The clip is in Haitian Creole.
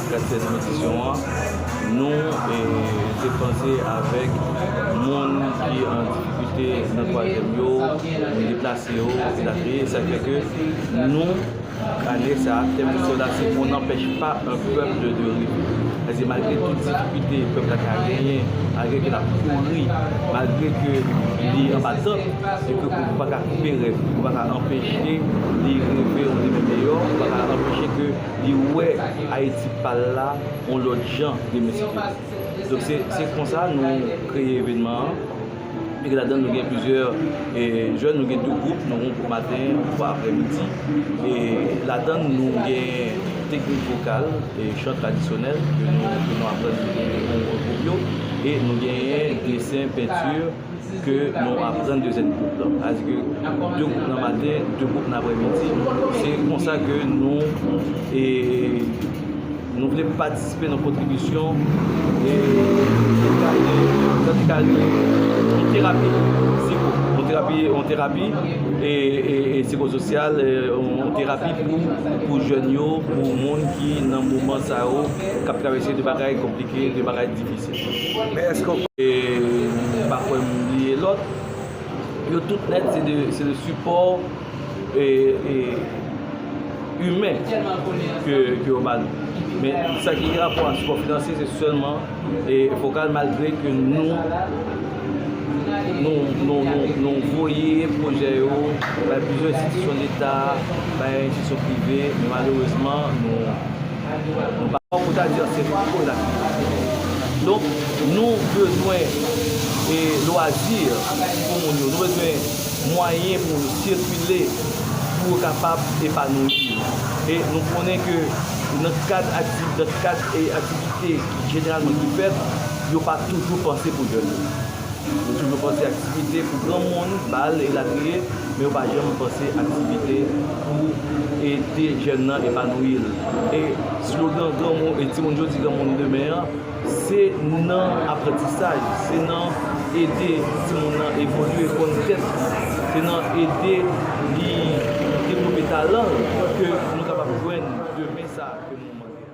Katyèm edisyon an, nou te panse avèk moun ki an difikilte nan twazyèm yo, moun deplase yo, elatriye. Sa fè ke nou, ane sa, tèm edisyon la se On n'empêche pas un peuple de rêver. Pase malgre tout difikilte pèp la ka genyen, malgre ke l ap kouri, malgre ke li anba tant, e ke ou pa ka koupe rèv li, ou pa ka anpeche li reve yon demen miyò, ou pa ka anpeche ke. li wè Ayiti pa l la yon lòt jan de meskile. Donk se konsa nou kreye evenman an e ladan l nou gen plizyè jèn, nou gen 2 gwoup, yon gwoup maten, yon gwoup aprèmidi e ladan l nou gen teknik vokal, chan tradisyonèl ke nou aprann yon gwoup yo e nou genyen desen, penti. ke nou aprann dezyèm gwoup lan. Sa vle di ke 2 gwoup nan maten, 2 gwoup nan aprèmidi. Se konsa ke nou e nou vle patisipe nan kontribisyon e sa ki rele, sa ki ka rele yon terapi siko, yon terapi, yon terapi e sikososyal, yon terapi pou pou jèn yo, pou moun ki nan moman sa yo kap travèse de bagay konplike, de bagay difisil. Men eske w pa. M pa kwè m bliye lòt. Yo tout nèt se de sipò imen ke yo ba nou. Men sa ki gen rapò ak sipò finansye se sèlman vokal malgre ke nou nou voye pwojè yo bay plizyè enstitisyon leta, bay enstitisyon prive men malerezman nou Ou ta di an se fouco la ki fè sa. Donk nou bezwen e lwazi pou moun yo. Nou bezwen mwayen pou yo sikile, pou yo kapab epanouyi. E nou konnen ke nan kad aktivite ki jeneralman ki fèt, yo pa toujou panse pou jèn yo. Yo toujou panse aktivite pou granmoun, bal elatriye, men yo pa janm panse aktivite pou ede jèn nan epanouyi l. E slogan granmoun e timoun jodi granmoun demen an, se nan aprantisaj, se nan ede timoun nan evolye, konn tèt li, se nan ede li devlope talan l ke nou kapab jwenn demen sa ke nou mande a.